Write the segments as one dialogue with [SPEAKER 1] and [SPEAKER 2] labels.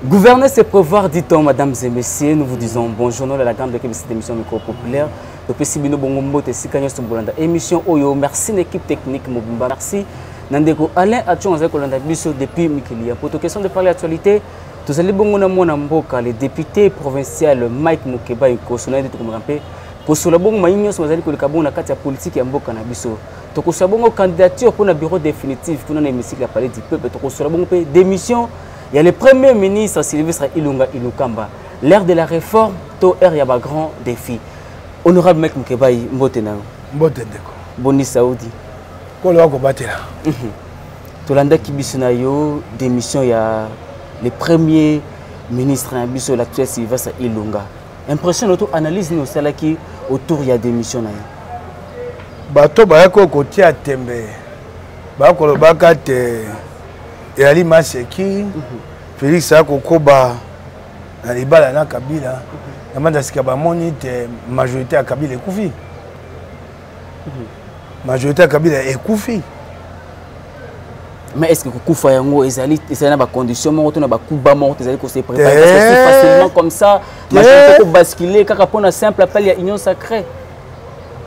[SPEAKER 1] Gouverner, c'est prévoir, dit-on, mesdames et messieurs. Nous vous disons bonjour, nous, la grande équipe de cette émission micro populaire. Le PC Bino Bongo Mbote, Sikanyo Sobolanda. Émission Oyo, merci l'équipe technique Mobimba. Merci Nandeko Alain Atchon, Azek Olanda Bisso, depuis Mikilia. Pour toute question de parler actualité, tous allez bongo na mwana mboka, le député provincial Mike Mukeba Yoko, sonade de Komorampe, Kosola Bongo Maïnyo, Sozali Kolekabon, la carte politique Mboka Nabisso. tokosola bongo candidature mpo na bureau définitive kuna na hémicycle ya palais du peuple tokosola bongo mpe démission ya le premier ministre sylvestre ilunga ilukamba l'ère de la réforme to ère ya bagrand défi honorable mek mokebai mbote na yo mbote ndeko
[SPEAKER 2] boni saudi
[SPEAKER 1] kolo
[SPEAKER 2] akobatela mhm.
[SPEAKER 1] tolandaki biso na yo démission ya le premier ministre na biso l'actuel sylvestre ilunga impression na yo to analyse nini osalaki autour ya démission na ye
[SPEAKER 2] bato bayaki oyo kotia tembe baya kolobaka te eyali maseki mhm. félix aya kokoba na libala na kabila mhm. na manda sika bamoni te majorité ya kabila ekufi majorité ya kabila ekufi
[SPEAKER 1] mais est ce que kokufa yango ezali ezali na bacondition moko to na bakuba moko te ezali kose préparesi facilement comme ça majorité kobascule kaka mpo na simple appel ya union sacrée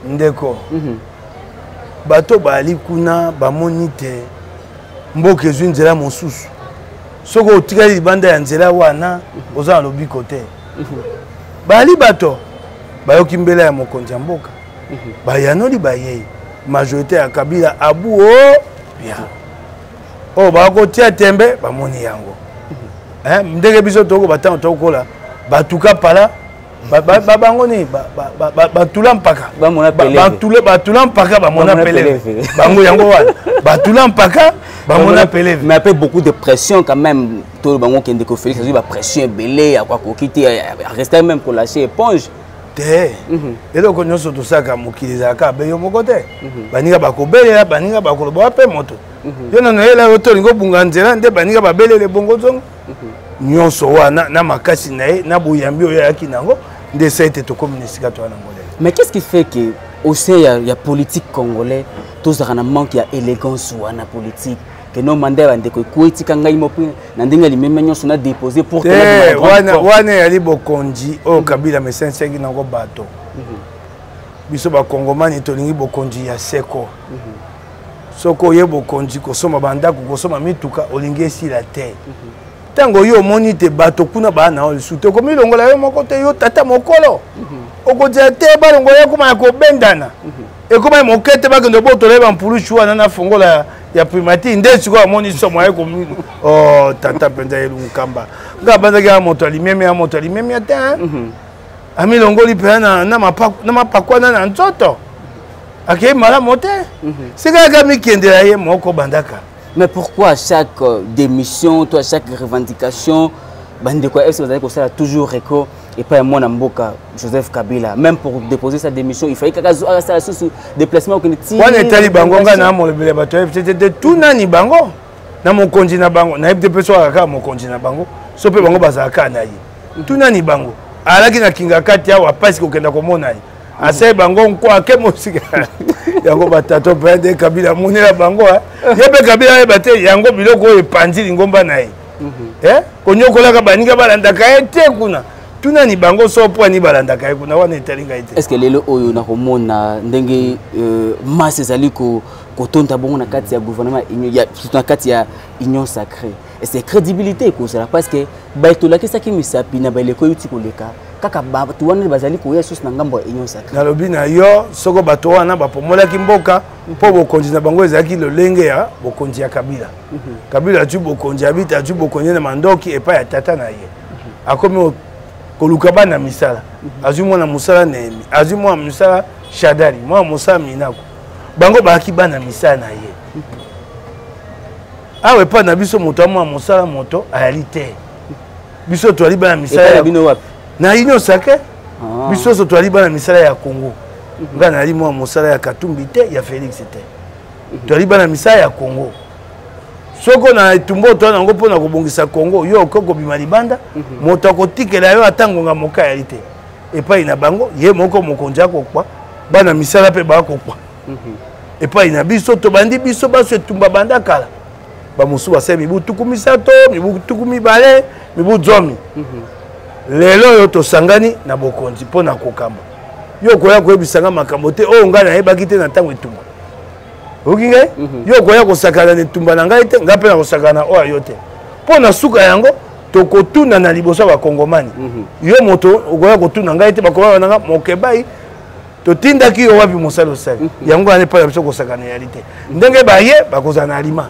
[SPEAKER 1] ndeko
[SPEAKER 2] mhm. bato baali kuna bamoni te mboka ezwi nzela mosusu soki otikali libanda ya nzela wana mhm. oza na lobiko te mhm. baali bato bayoki mbela ya mokonzi ya mboka mhm. bayanoli bayei majorité ya kabila abu o oh, ya oyo oh, bakotia tembe bamoni yango mhm. ndenge biso tokoba ntango tokola batuka pala bango nini batula mpaka batula mpaka bamona peleve bango yango wana batula mpaka bamona peleve mais ape beaucoup de
[SPEAKER 1] pression quand même to bango kende ko félix azwi bapression ebele ya kwakoki te reste même kolache éponge te mhm.
[SPEAKER 2] eloko nyonso tosalaka mokili ezalaka abe yo moko te mhm. baninga bakobelela baninga bakoloba wape moto mhm. yo nano yela yo tolingi obunga nzela nde baninga babelele bongo zongo nyonso wana na makasi na ye na boyambi oyo ayaki na yango nde esa ete tokomi na esika toya na ngolele mais qu'est ce qui fait que
[SPEAKER 1] au sein ya, ya politique congolais tozalaka na manque ya élégance wana politique que non manda ya bandeko ekoya etika ngai moko na ndenge ya limemia nyonso na dépose pour eh, wana
[SPEAKER 2] eyali bokonzi oyo oh, mhm. kabila mesensiaki nango bato mhm. biso bakongomani tolingi bokonzi ya seko mhm. soki oye bokonzi kosomba bandako kosomba mituka olingi esila te ntango yo omoni te bato kuna baa na yo lisusu te okomilongola yo moko te yo tata mokolo okozela te balongola ekoma ya kobendana ekoma ya moke te bakende botola ye bampulusu wana na fongola ya primature nde sikoyo amoni somo aye komi o oh, tata mpenza ye lunkamba nga abandaki ya moto ya limemia ya moto ya limemia te mhm. amilongoli mpenza na mapakwana na nzoto akei malamu te mhm. sika yaka mikendela ye moko bandaka mais pourquoi à
[SPEAKER 1] chaque euh, démission to à chaque revendication bandeko ya ese bazali kosala toujours eko epai ya mwana mboka joseph kabila même pour déposer sa démission il fallait kaka asala susu déplacement okende tiwana etali bango ngai
[SPEAKER 2] na molobele bato ya fctt tu nani bango na mokonzi na bango nayebi te mpe soka kaka mokonzi na bango so mpe bango bazala kaka na ye mhm. tu nani bango alaki na kingakati awa mpasi kokenda komona ye mhm. asali bango nkwake mosika yango batato mpe nde kabila amonela bango ye mpe kabila ayeba te yango biloko oyo epanzi lingomba na ye mhm. eh? konyokolaka baninga balandaka ye te kuna tunani bango so mpo ani balandaka ye kuna wana etali ngai te estce lelo oyo
[SPEAKER 1] nakomona ndenge euh, masse ezali kotonda bongo na kati ya gouvernement surtout na kati ya union sacrée ese crédibilité ekozala parce que baye tolakisaki misapi na baeleko euti koleka kaka bato wana bazali koya susu na ngambo ya union sacrée nalobi na yo
[SPEAKER 2] soko bato wana bapomolaki mboka mpo bokonzi na bango ezalaki lolenge ya bokonzi ya kabila kabila azwi bokonzi abita azwi bokonzi na mandoki epai ya tata na ye akomi koluka bana misala azwi mwana mosala nehemi azwi mwana mosala shadari mwana mosala minako bango bayaki bana misala na ye awa epai na biso moto ya mwana mosala moto ayali te biso toyali bana misala na union sacre ah. biso nyonso toyali bana misala ya congo ngai nayali mwana mosala ya katumbi te ya félix te toyali bana misala ya congo soko na etumba otoya nango mpo na kobongisa congo yo okoki kobima libanda mhm. moto akotikela yo ata ngonga moka yali te epai na bango ye moko mokonzi akokwa bana misala mpe bakokwa mhm. epai na biso tobandi biso baso etumba banda kala bamosusu basali mibu tuku misato mibu tuku mibale mibu zomi mhm. lelo oyo tosangani na bokonzi mpo na kokamba yo okoya koyebisa nga makambo te oyo ngai nayebaki te na ntango etumba oyoki ngai mhm. yo okoya kosakana na etumba na ngai te ngai mpe nakosakana na oyo ayo te mpo na suka yango tokotuna na liboso ya bakongomani mhm. yo moto okoya kotuna ngai te bakongomani nanga mokebai totindaki yo wapi mosala osali mhm. yango wana epai na biso kosakana yali te ndenge baye bakozala na alima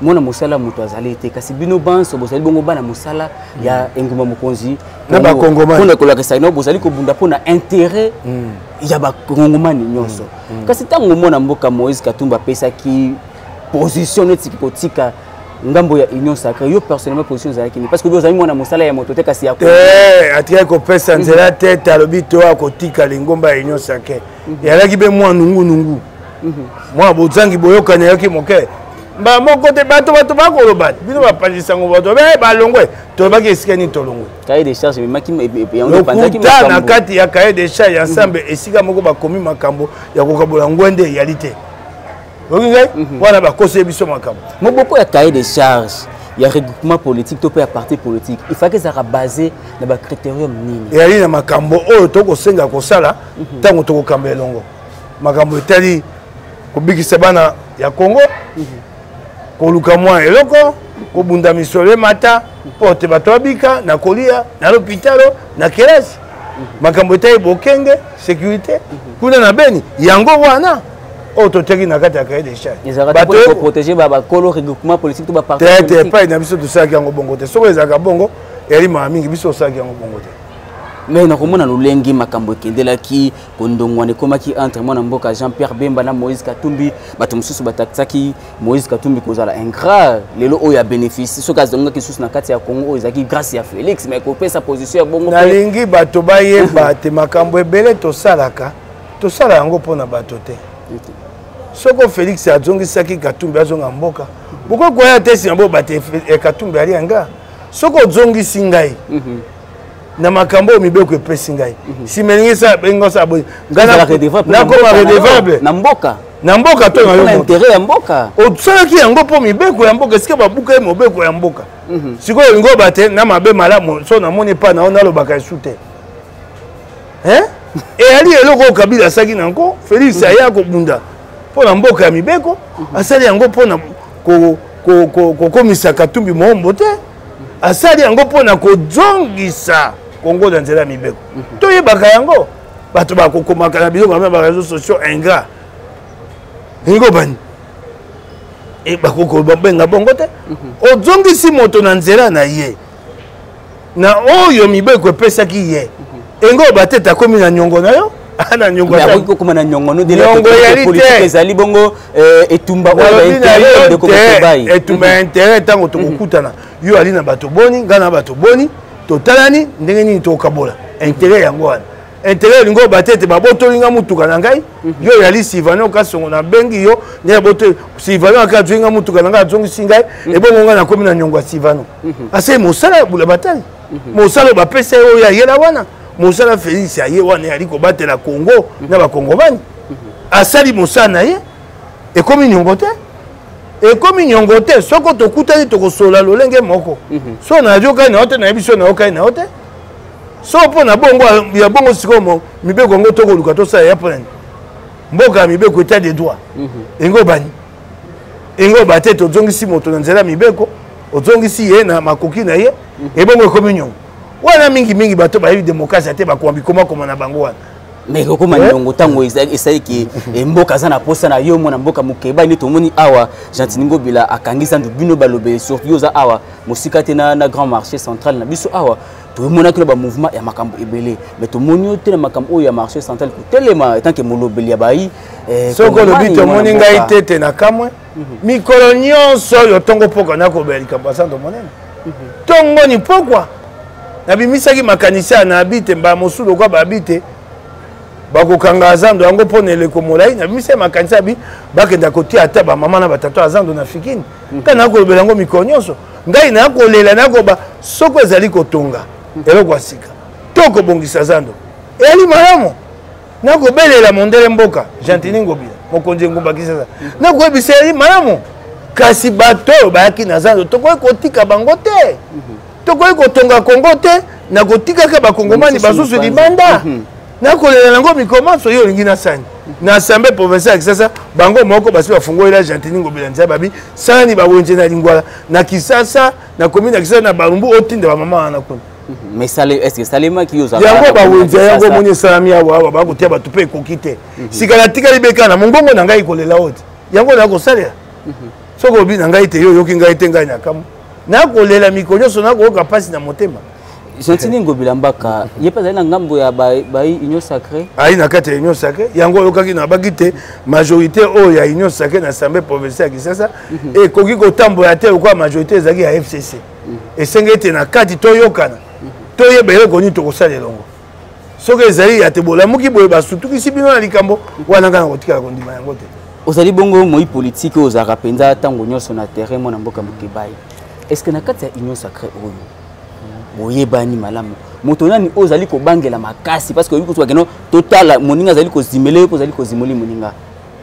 [SPEAKER 1] mwana mosala moto azali te kasi bino banso bozali bongo bana mosala ya mm. engumba mokonzi mpona
[SPEAKER 2] kolakisa no bozali
[SPEAKER 1] kobunda mpo na intérêt mm. ya bakongomani nyonso mm. kasi ntango mwana mboka moïse katumba apesaki position neti kotika ngambo ya union sacré yo personnellement position ezalaki nini parce que ozali mwana mosala ya moto te kasi ya eh, atikaki kopesa
[SPEAKER 2] nzela te te alobi to akotika lingomba ya union sacré yalaki mpe mwa nungunungu mhm. mwa bozangi boyokani yoki moke mbala moko te bato bato bakoloba bino bapanzi sango bato be balongwe tolobaki esika nini tolongwe
[SPEAKER 1] lokuta
[SPEAKER 2] na kati ya cahier de charge ya nsambe mhm. esika moko bakomi makambo ya kokabola ngwende eyali te oki ngai mhm. wana bakoseli biso makambo moboko ya cahier de
[SPEAKER 1] charge ya regroupement politique to mpe ya parti politique ifaki ezalaka basé na bacritérium nini eyali na makambo
[SPEAKER 2] oyo tokosenga kosala ntango mhm. tokokamba elongo makambo etali kobikisa bana ya congo koluka mwa eloko kobunda misolo emata mpo te bato babika na kolia na lopitalo na kelasi makambo etali bokenge sécurité kuna na beni yango wana oyo toteki na kati ya cahier de
[SPEAKER 1] chargeprotegebakolorigrupementpolitiquete epai na biso
[SPEAKER 2] tosalaki yango bongo te soki ezalaka bongo eyali maa mingi biso osalaki yango bongo te me nakomona
[SPEAKER 1] lolenge makambo ekendelaki kondongwana ekomaki entre mwana mboka jean pierre bemba na moïse katumbi bato mosusu batatisaki moïse katumbi kozala ingrat lelo oyo ya bénéfice soki azongaki lisusu na kati ya congo oyo ezalaki grâce ya félix mais kopesa position ya bongo nalingi bato
[SPEAKER 2] bayeba te makambo ebele tosalaka tosala yango mpo na bato te soko félix azongisaki katumbi azonga mboka bokoki koya te nsima bobate eh, katumbi ali yanga soko ozongisi ngai mhm. na makambo oyo mibeko epesi ngai mhm. nsima elingi sa benga sa boye nakoma redevable na mboka na mboka to na yointere ya mboka
[SPEAKER 1] osalaki yango mpo
[SPEAKER 2] mibeko ya mboka esika babuka ye mobeko ya mboka mhm. sikoyo olingi oba te na mabe malamu so namoni epai na yo nalobaka esu te eyali eloko oyo kabila asalaki na yango félix mhm. aya kobunda mpo na mboka ya mibeko asali yango mpo na kokomisa katumbi moombo te asali yango mpo na kozongisa kongo na nzela ya mibeko mhm. toyebaka yango bato bakokomaka na biloko ya bareseau sociaux ingrat ndenge obani e, bakokobenga bongo te mhm. ozongisi moto na nzela na ye na oyo mibeko epesaki ye mhm. engo batete akomi na nyongo na yo ana nyongo akoki kokoma na nyongo no
[SPEAKER 1] delnyongo eyali te ezali bongo eh, etumba oyo bainteret ndeko motobai etumba ya interet
[SPEAKER 2] ntango tokokutana mhm. yo ali na bato boni ngai na bato boni totalani ndenge nini tokokabola interet yango wana interet olingi obate ete babotoli ngai motuka na ngai mhm. yo oyali sivane okasongo nabengi yo nde abotoli sivane aka azwingi ngai motuka na ngai azongisi ngai mhm. ebongo ngai nakomi na nyongo ya sivano ase mosala ya bula batali mosala oyo bapesa ye oyo ayela wana mosala felix aye wana ali kobatela congo mhm. na bakongomani mhm. asali mosala na ye ekomi niongo te ekomi niongo te soko tokutani tokosolola lolenge moko mhm. so nayokai na yo te nayebi so nayokai na yo te so mpo na bongo ya bongo sikoyo mibeko yango tokoluka tosala ya mpo nani mboka ya mibeko etat de droit enge obani enge oba te tozongisi moto na nzela ya mibeko ozongisi ye na makoki na ye ebongo ekomi niongo wana mingi mingi bato bayebi demokrasia te bakoma bikomakoma na bango wana mais kokoma eh? niongo
[SPEAKER 1] ntango esali ke eh, mboka aza na mposa na yo mwana mboka mokeba nde tomoni awa gentini ngobila akangisa ndu bino balobeli surtout yo oza awa mosika te na, na grand marché central na biso awa tomonaki na bamouvement ya makambo ebele mais tomoni yo te na makambo oyo ya marché central kotelema etant ke molobeli ya bayi eh, soko olobi
[SPEAKER 2] tomoni ngai te te na kamwe mikolo nyonso oyo ntongo mpokwa nakobela likambo ya santo monene ntongo ni mpokwa nabimisaki makanisi ya na abi te mbala mosusu lokola babi te bakokanga azando yango mpo na eleko molai nabimisaki makanisi ya bi bakenda kotia ata bamama na batata azando na fikini mhm. ngai nakolobela yango mikolo nyonso ngai nakolela nakoba soko ezali kotonga mhm. eloko ya sika to kobongisa zando eyali malamu nakobelela mondele mboka gentini ngobila mokonzi engumba kisasa nakoyebisa ye malamu kasi bato oyo bayaki na zando tokoki kotika bango te mhm. tokoki kotonga kongo te na kotikaka bakongomani basusu libanda mhm. nakolela yango mikomanso yo olingi nasani mhm. na assemblée provincial ya kisasa bango moko basi bafungolela gentini ngobila nzai babi sani bawenze na lingwala na kisasa na komi na kisa na barumbu otinda bamama wana kuna
[SPEAKER 1] yango bawenzi ya yango
[SPEAKER 2] omoni esalami awa awa bakotia bato mpe ekoki te mhm. sika natikali bekana mongongo na ngai kolela oyo te yango na kosalela mhm. soki obi na ngai te yo oyoki ngai te ngai na kamwa nakolela mikolo nyonso nakoyoka mpasi na motema gentini ngobila
[SPEAKER 1] mbaka ye mpe azali na ngambo ya bayi union sacré ayi na kati ya union
[SPEAKER 2] sacré yango oyokaki na baki te majorité oyo ya union sacré na assemblée provinciale ya kisasa mhm. ekoki kotambola te lokola majorité ezalaki ya fcc mhm. esengi ete na kati toyokana mhm. toyeba eloko nini tokosala elongo soki ezali ya te bolamuki boye basutukisi bino na likambo wana ngai nakotikala kondima yango te ozali bongo moi
[SPEAKER 1] politike oyo ozalaka mpenza ntango nyonso na terrain mwana mboka mokebayi est ce que na kati ya union sacré oyo boyebani malamu moto nani oyo ozali kobangela makasi parce que oyebi kosuka keno totala moninga azali kozimela yo mpo ozali kozimoli moninga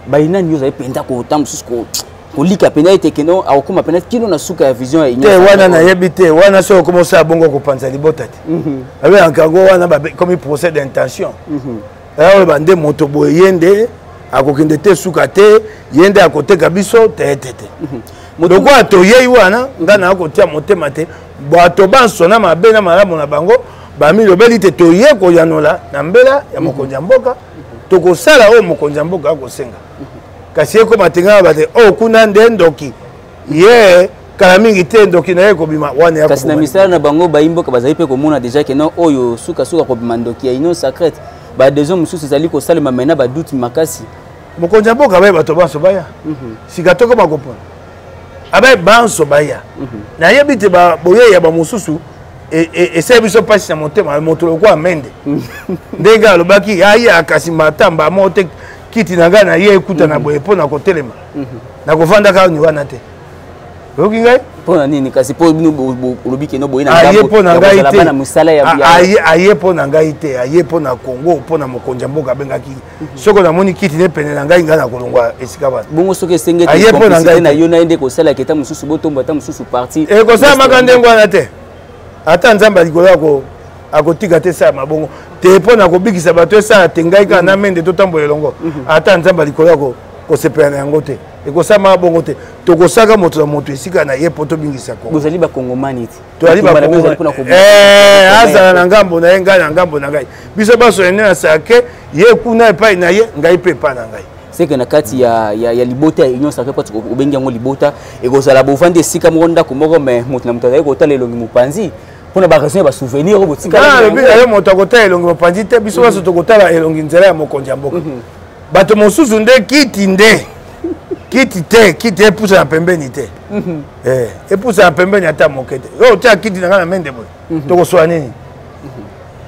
[SPEAKER 1] bayi nani yo ozali mpenza kota mosusu kolika mpenza ete keno akokoma mpenza kino na suka ya vision ya union te wana nayebi te
[SPEAKER 2] wana soki okoma osala bongo okopanza libota te mhm. abeyaka yango wana bakomi procès d'intention mhm. eoyo eh, bande moto boye ye nde akokende te suka te ye nde akoteka biso teetete mhm. lokola toyei wana ngai naa kotia motema te bato banso na mabe na malamu na bango bamilobeli te toye koyanola na mbela ya mokonzi ya mboka tokosala oyo mokonzi ya mboka akosenga kasi ekoma te ngai bate oyo oh, kuna nde ndoki ye kala mingi te ndoki na ye ekobima wana kasi na misala na bango
[SPEAKER 1] bayimboka bazali mpe komona deja ke non oyo sukasuka kobima ndoki ya union sacrete badesion mosusu ezali kosalema mai na baduti makasi mokonzi ya mboka
[SPEAKER 2] baye bato banso baya mhm. sika tokoma kopona abaye banso baya mhm. nayebi te boyei ya bamosusu e, e, esali biso mpasi na motema moto lokola mende mhm. ndenge alobaki aya kasi matamba moko te kiti na ngai na ye ekutana boye mpo na kotelema mhm. nakovanda kaka ni wana te oyoki ngai mpo na nini kasi mpo
[SPEAKER 1] bino olobi keno boye aye mpo na ngai te
[SPEAKER 2] aye mpo na ngai te aye mpo na congo mpo na mokonzi ya mboka abengaki mhm. soko namoni kiti ne pene na ngai ngai nakolongwa esika bana bongo soki esengeli
[SPEAKER 1] mpo na ngai na yo na ye nde kosalaka eta mosusu botombo ata mosusu parti ekosalamaka ndenge wana
[SPEAKER 2] te ata nzambe ya likolo yako akotika te esala mabongo te mpo na kobikisa bato esala te ngai kaka na mende totambola elongo mhm. ata nzambe ya likolo yako kosepela na yango te ekosalama bongo te tokosaka moto na moto esika na ye mpo tobingisa bozali bakongomani
[SPEAKER 1] eh,
[SPEAKER 2] azala na ngambo na ye ngai na ngambo na ngai biso banso ene nasala ke ye kuna epai na ye ngai mpe epai na ngai seke na kati ya,
[SPEAKER 1] ya, ya libota ya union sacre pati obengi yango libota ekozala bovandi esika moko ndako moko me moto na moto azali kotala elongi mopanzi mpona baraison ya basouvenir oyo botikalobi na yo moto
[SPEAKER 2] akotala elongi mopanzi te biso banso tokotala elongi nzela ya mokonzi ya mboka mhm. bato mosusu nde kiti nde kiti te kiti epusa na pembeni te mhm. eh, epusa na pembeni ata moke te yo otya kiti na ngai na mende boye mhm. tokosola nini mhm.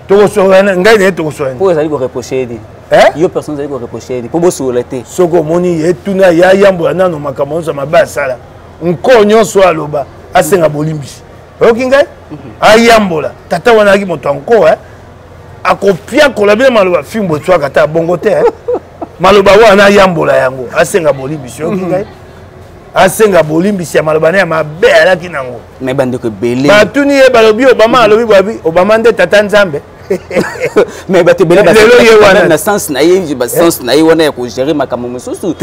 [SPEAKER 2] tokosola ngai na ye tokosola nini po ezali koreproche ye te
[SPEAKER 1] eh? yo personne ezali koreproche ye te po bosolola te soki omoni ye
[SPEAKER 2] tuna ye ayambola nano makambo nyonso mabe asala nkoo nyonso aloba asenga bolimbisi oyoki ngai mhm. ayambola tata wana ayaki moto ya nko eh? akopiakola bino maloba fimbo etwaka ata bongo te eh? maloba wana ayambola yango asenga bolimbisi oyoki mhm. ngai asenga bolimbisi ya maloba na ya mabe alaki nango batuni
[SPEAKER 1] ye balobi
[SPEAKER 2] obama alobi bwabi obama nde tata nzambe
[SPEAKER 1] mais bato ebele na sens na ye sens na ye wana ya kogere makambo mosusu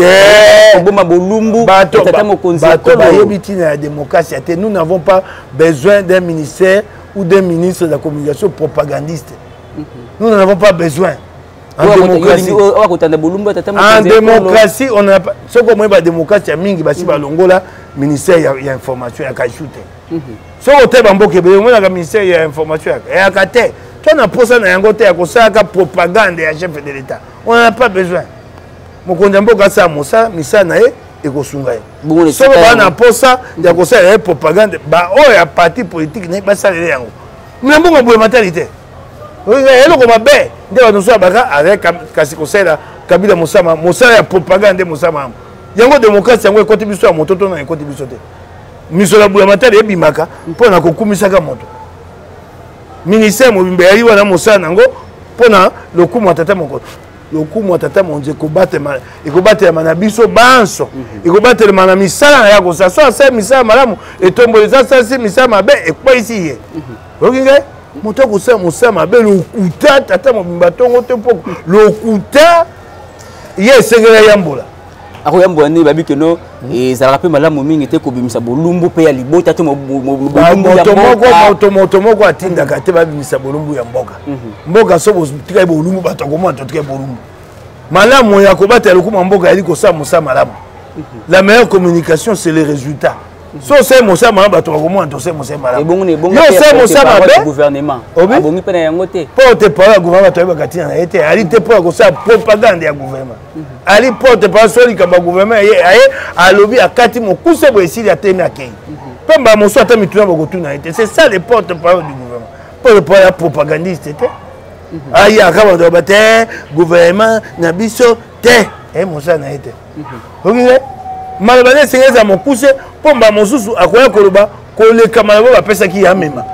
[SPEAKER 1] koboma bolumbu tata mokonzi bato bayebi ntina
[SPEAKER 2] ya démocratie ya te nous n'avons pas besoin d'un ministère ou d'un ministre de la communication propagandiste mhm. nous n'en avons pas besoin en démocratie en démocratie on a soki omoyi badémocratie ya mingi basi mhm. balongola ministère ya information ya kaisu te soki otali bamboka ebele omonaka ministère ya information yaka eyaka te to na mposa na yango te ya kosalaka propagande ya chef de l'état on en a pas besoin mokonzi ya mboka asala mosala misala na ye ekosunga ye soko baa na mposa ya kosalela ye propagande baoyo ya parti politike naye basalele yango na mbongo boye matali te eloko mabe nde bato mosusu abaka aza kasi kosalela kabila mosama mosala ya propagande nde mosama yango yango demokrasi yango ekoti biso ya mototo na ekoti biso te misolo ya bulamatari ebimaka mpo na kokumisaka moto ministère mobimba eyai wana mosala na yango mpo na lokumu ya tata mokonzi lokumu ya tata mokonzi ekobatelama na biso banso mhm. ekobatelama na misala na ye akosala so asala misala malamu etomboli eza asalisi misala mabe ekweisi ye mhm. oyoki ngai moto akosala mosala mabe lokuta tata mobimba ntongo te mpo lokuta ye esengeli ayambola akoyambola nini
[SPEAKER 1] babi keno ezalaka mpe malamu mingi te kobimisa bolumbu mpe ya libota to
[SPEAKER 2] moto moko atindaka te babimisa bolumbu ya mboka mhm. mboka so botikali bolumbu bato akomona totikali bolumbu malamu ya kobatela lokuma mboka yali kosala mosala malamu mhm. la meilleure communication c'est le résultat mhm. so osali mosala malamu bato bakomona tosali mosala malamuyo osali mosala mabe obongi mpe
[SPEAKER 1] na yango te mpo te parole ya gouvernement
[SPEAKER 2] bato ayebaka ntina na ye te ali te mpo ya kosala propagande ya gouvernement ali porte pa so likambo ya gouvernement ye aye alobi akati mokuse boye esili atemi akei mpe mbala mosusu ata mituna bakotuna ye te c'est ça le porte parole du gouvernement porte parole ya propagandiste te aye aka bato baba te gouvernement na biso te e mosala na ye te okize maloba nde esengeli ezala mokuse mpo mbala mosusu akoya koloba koleka maloba bapesaki ye amema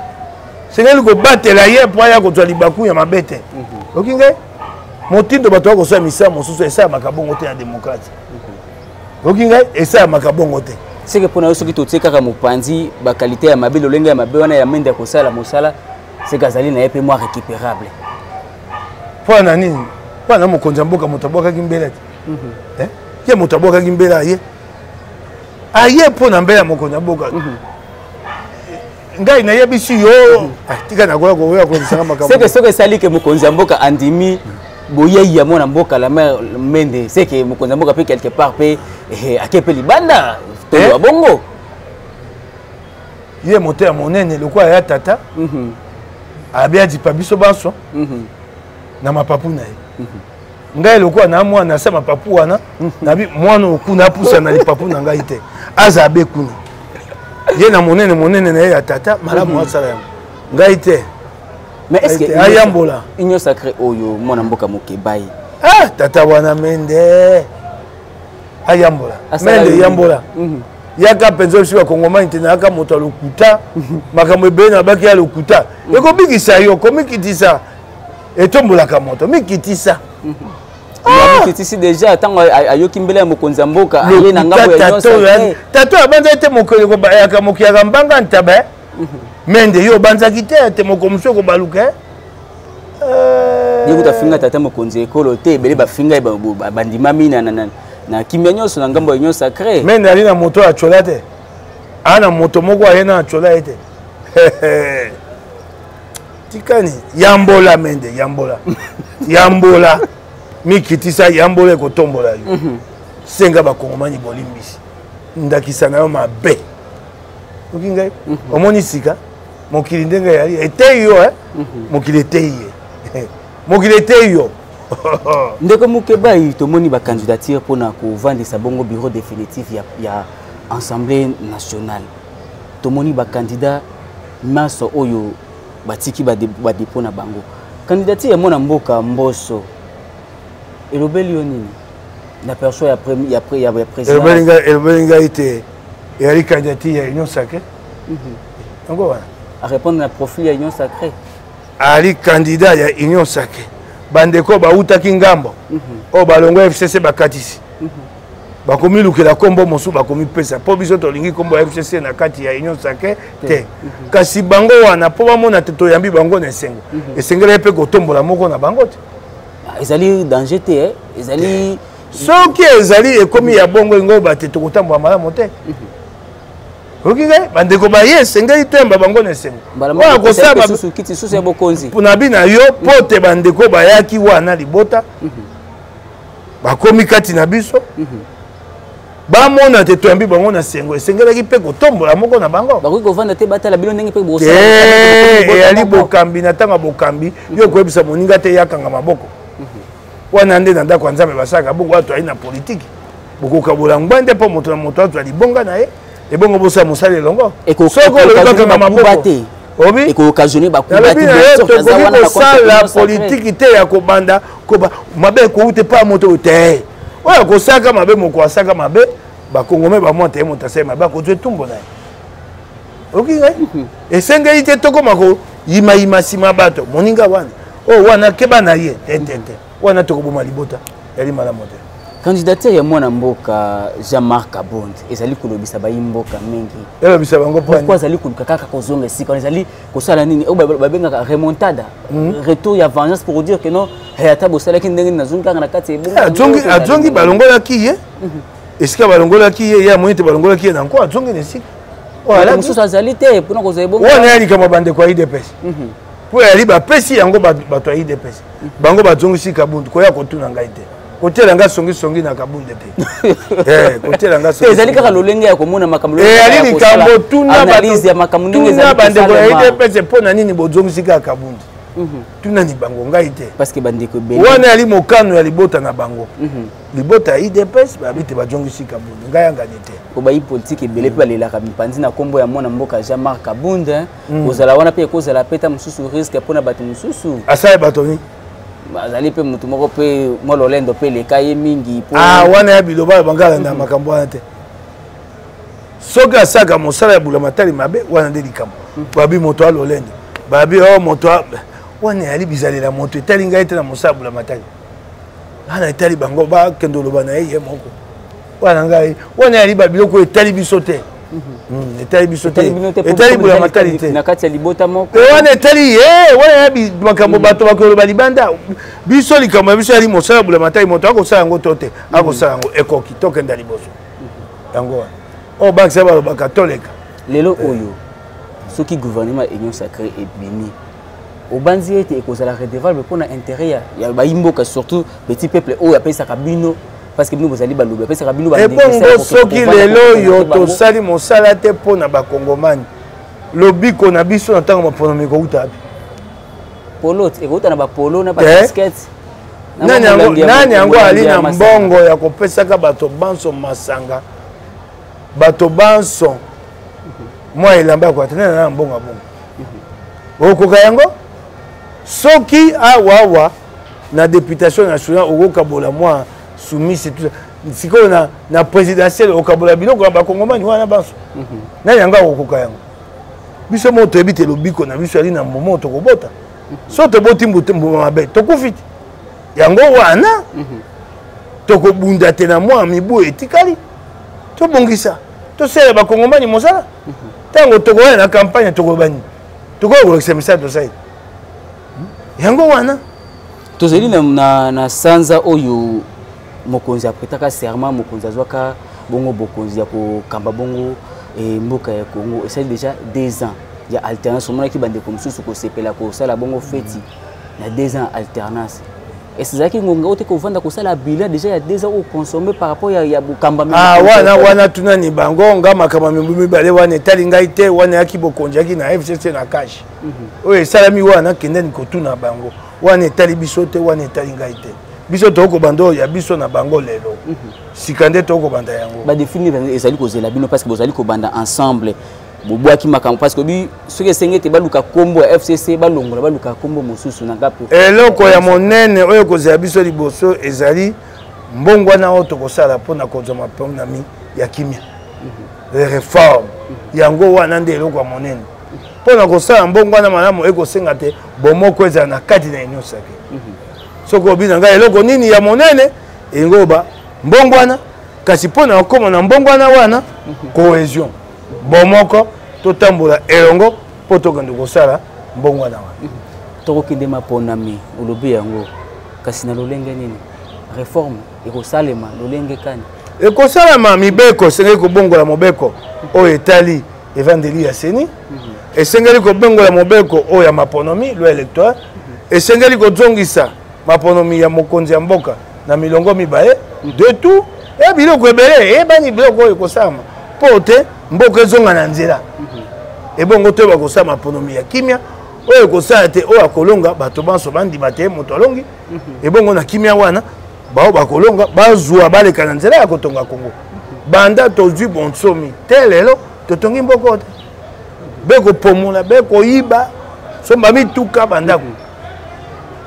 [SPEAKER 2] esengeli kobatela ye mpo aya kozwa libaku ya mabe te okingai motindo bato ya kosala misala mosusu esalamaka bongo te na demokratie oyoki ngai esalamaka bongo te seke mpo na yo soki totie
[SPEAKER 1] kaka mopanzi bakalite ya mabe lolenge ya mabe wana ya mende ya kosala mosala seke azali na ye mpe mwa récupérable
[SPEAKER 2] mpo na nini mpo na mokonzi ya mboka moto abwakaki mbela te mhm. eh? ye moto abwakaki mbela aye aye mpo na mbela ya mokonzi ya mboka mhm. ngai nayebisi yo ah, tika nakoya koya kolobisanga makambo seke soki esali ke mokonzi
[SPEAKER 1] ya mboka andimi boyei ya mwana mboka la mare mende seke mokonzi ya mboka mpe quelque part mpe eh, ake mpe libanda toloba eh? bongo
[SPEAKER 2] ye moto ya monene lokola ya tata mhm. abi adipa biso banso mhm. na mapapu na ye mhm. ngai lokola na mwana na se mapapu wana nabi mwana okuna apusa na lipapu na ngai te aza abe kuna ye na monene monene na ye ya tata malamu mhm. asala yango ngai te
[SPEAKER 1] ayambola union
[SPEAKER 2] sacré oyo
[SPEAKER 1] mwana mboka mokebai ah, tata
[SPEAKER 2] wana mende ayambola mende yambola mhm. yaka mpenza osi bakongomani te nayaka moto ya lokuta mhm. makambo ebele na baki ya lokuta ekobikisa yo komikitisa etombolaka moto mikitisa
[SPEAKER 1] mikitisi deja ntango ayoki mbele ya mokonzi ya mboka aye na ngambo ya nyonso tato abanzaki te
[SPEAKER 2] mokolo kobayaka mokiyaka mbanga ntaba eh? mhm. mende yo obanzaki te te moko mosu ekobaluka eh? eh.
[SPEAKER 1] ye kutu afinga tata mokonzi ya ekolo te ebele bafinga ye bandimami na kimia nyonso na ngambo ya union sacré mende ali na moto ya
[SPEAKER 2] cola te aa na moto moko aye na cola ye te tikani yambola mende yambola yambola mikitisa yambola ekotombola yo mhm. senga bakongomani bolimbisi ndakisa na yo mabe oki ngai mhm. omoni sika mokili ndenge yali eteyi yo eh? mhm. mokili eteyi ye mokili eteyi yo ndeko
[SPEAKER 1] mokebai tomoni bacandidature mpo na kovandisa bongo bureau définitif ya, ya assemblée nationale tomoni bacandidat nyonso oyo batiki badepo na bango candidature ya mwana mboka mboso elobeli yo nini na perso ya présidentebeli ngai
[SPEAKER 2] te eyali candidature ya union sacré mhm. yango wana arépondre na profil
[SPEAKER 1] ya union sacré ali
[SPEAKER 2] candidat ya union sacré bandeko bautaki ngambo mhm. oyo balongwa fcc bakatisi mhm. bakomilukela nkombo mosusu bakomipesa mpo biso tolingi nkombo ya fcc na kati ya union sacre te mhm. kasi bango wana mpo bamona te toyambi bango na esengo mhm. esengelaki mpe kotombola moko na bango te ah, ezali
[SPEAKER 1] danger te eh. ezali soki
[SPEAKER 2] ezali ekomi ya bongo ingo bate tokotambola malamu te mhm. oyoki ngai bandeko baye esengeli toyamba bango na esengo oyo akosala na bina yo mpo te bandeko bayaki wana libota bakomi kati na biso mm -hmm. bamona te toyambi bango na sengo esengelaki mpe kotombola moko na bango bakoki kovanda te batala bino ndenge mpe boeyali bokambi na ntango ya bokambi yo okoyebisa moninga te yakanga maboko mhm. wana nde na ndako ya nzambe basalaka bongo wato ayi na politiki bokokabola ngwa nde mpo moto na moto azwa libonga na ye ebongo bosala mosala elongo soki olobakanga maboko te obi ekookasione
[SPEAKER 1] bakuba te tokoki
[SPEAKER 2] kosala politiki te ya kobanda koba mabe ekouta epai ya moto oyo te oyo akosaka mabe moko asaka mabe bakongome bamwa te moto asali mabe akozwa etumbo na ye oyoki ngai mhm. esengeli te tokoma koyimayima nsima ya bato moninga wana oyo oh, wana keba na ye tetete wana tokoboma libota yali malamu te candidature ya
[SPEAKER 1] mwana mboka jean marc abond ezali kolobisa bayi mboka mingi elobisa bango pourkui
[SPEAKER 2] azali koluka kaka
[SPEAKER 1] kozonga esika wana ezali kosala nini oyo oh, babengaka remontada hmm. retour ya vengeance pour dire que non eh, ata bosalaki ndenge nini nazongi kaka na kati ya eh, azongi
[SPEAKER 2] balongolaki ye mhm. esika balongolaki ye ye amoni te balongolaki ye na nko azongi na esika mosusu
[SPEAKER 1] azali te mpona kozwa ebongowana ya likambo ya bandeko ya
[SPEAKER 2] idps mhm. mpo yali bapesi yango bato ya idps mhm. bango bazongisi kabundu koya kotuna ngai te kotiela nga songisongi na kabunde te eh, kotiela nga songi ezali kaka lolenge ya komona
[SPEAKER 1] makambo eyali eh, likambo
[SPEAKER 2] tuna bandeko
[SPEAKER 1] ya idps
[SPEAKER 2] mpo na nini bozongisi kaka kabunde mhm. tunani bango ngai te wana
[SPEAKER 1] yali mokano ya
[SPEAKER 2] libota na bango mhm. libota ya idps babi te bajongisi kabunde ngai yangani te obayi politike ebele
[SPEAKER 1] mpe balelaka mipanzi na nkombo ya mwana mboka jean marc kabunde mhm. kozala wana mpe ekozala mpe ta mosusu riske mpo na bato mosusu asali bato nini
[SPEAKER 2] azali mpe
[SPEAKER 1] motu moko mpe mwa lolendo mpe eleka ye mingi ah, wana ya biloba
[SPEAKER 2] ya bangala na makambo wana te soki asalaka mosala ya bulamatali mabe wana nde likambo hmm. babi moto ya lolendo babi o oh, moto wana eyali bizalela moto etali ngai te na mosala ya bulamatali wana etali bango bakende oloba na ye ye moko wana ngai wana yali babiloko oyo etali biso te mhm. hmm, etali biso te etali bola matali te na kati ya libota
[SPEAKER 1] moko
[SPEAKER 2] e
[SPEAKER 1] wana etali ye
[SPEAKER 2] wana ya makambo mhm. bato bakoloba libanda biso likambo ya biso yali mosala bola matali moto akosala yango to te mhm. akosala yango ekoki tokenda liboso yango wana oyo oh, bakisa balobaka toleka lelo eh. oyo
[SPEAKER 1] soki gouvernement union sacré ebimi obanzi ete ekozala redevable mpo na intérêt ya bayimboka surtout petit peuple oyo apesaka bino parce que bino bozali balobi bapesaka bino ebongo soki
[SPEAKER 2] lelo oyo tosali mosala te mpo na bakongomani lobiko na biso na ntango maponomi ekouta bi
[SPEAKER 1] polo ekouta na bapolo na baskete eh?
[SPEAKER 2] nani yango ali na mbongo ya kopesaka bato banso masanga bato banso mwa elamba ya kwata nani na mbongo ya bongo okoka yango soki awawa ah, na députation nationale okokabola mwa soumise tout sikoyo na, na présidentielle okabola biloko ya bakongomani wana banso mm -hmm. nani yango akokoka yango biso moko toyebi te lobiko na biso yali na mbuma oyo tokobota mhm. so toboti mbuma mabe tokufi te yango wana mm -hmm. tokobunda te na mwa mibu etikali tobongisa tosala bakongomani mosala mhm. ntango tokoya na campagne tokoloba nini tokoya kolakisa misala tosali yango wana tozali na,
[SPEAKER 1] na, na sanza oyo mokonzi apretaka serment mokonzi azwaka bongo bokonzi ya kokamba bongo e, mboka ya congo esali déjà deux ans ya alternance omonaki bandeko mosusu kosepela kosala bongo feti na deux ans alternance ezalaki ngonga oyo te kovanda kosala bilan déjà ya deux ans oyo consomme par rapport ya, ya bokambami ah, wana wana
[SPEAKER 2] tunani bango nga makambo mibale wana etali ngai te wana yaki bokonzi yaki na fcc na kashe oyo esalami wana kendeni kotuna bango wana etali biso te wana etali ngai te biso tokoki kobanda oyo ya biso na bango lelo mhm. sika nde tokoki kobanda yango badefini ezali
[SPEAKER 1] kozela bino parce que bozali kobanda ensemble bobwaki makambo parce que soki esenge ete baluka nkombo ya fcc balongola baluka nkombo mosusu na gapo eloko ya monene
[SPEAKER 2] oyo ekozela biso liboso ezali mbongwana oyo tokosala mpo na kozwa maponami ya kimia mhm. reforme mhm. yango wana nde eloko ya monene mpo na kosala mbongwana malamu ekosenga te bomoko ezala na kati na nyonso yake mhm. soki obi na ngai eloko nini ya monene elingi oba mbongwana kasi mpo na kokoma na mbongwana wana mhm. cohésion bomoko totambola elongo mpo tokende kosala mbongwana wana mhm. tokokende
[SPEAKER 1] maponami olobi yango kasi na lolenge nini reforme ekosalema lolenge kani ekosalama
[SPEAKER 2] mibeko esengeli kobongola mobeko oyo etali evandeli ya seni esengeli kobengola mobeko oyo ya maponomi loi électoire esengeli kozongisa maponomi ya mokonzi ya mboka na milongo mibale de tout e eh, biloko ebele eyebani eh, biloko oyo ekosalama mpo te mboka ezonga na nzela ebongo to bakosala maponomi ya kimia oyo ekosala te oyo akolonga bato banso bandima te moto alongi ebongo na kimia wana baoyo bakolonga bazwa baleka na nzela ya kotonga kongo banda tozwi bonsomi te lelo totongi mboko te bekopomola bekoyiba somba mituka bandako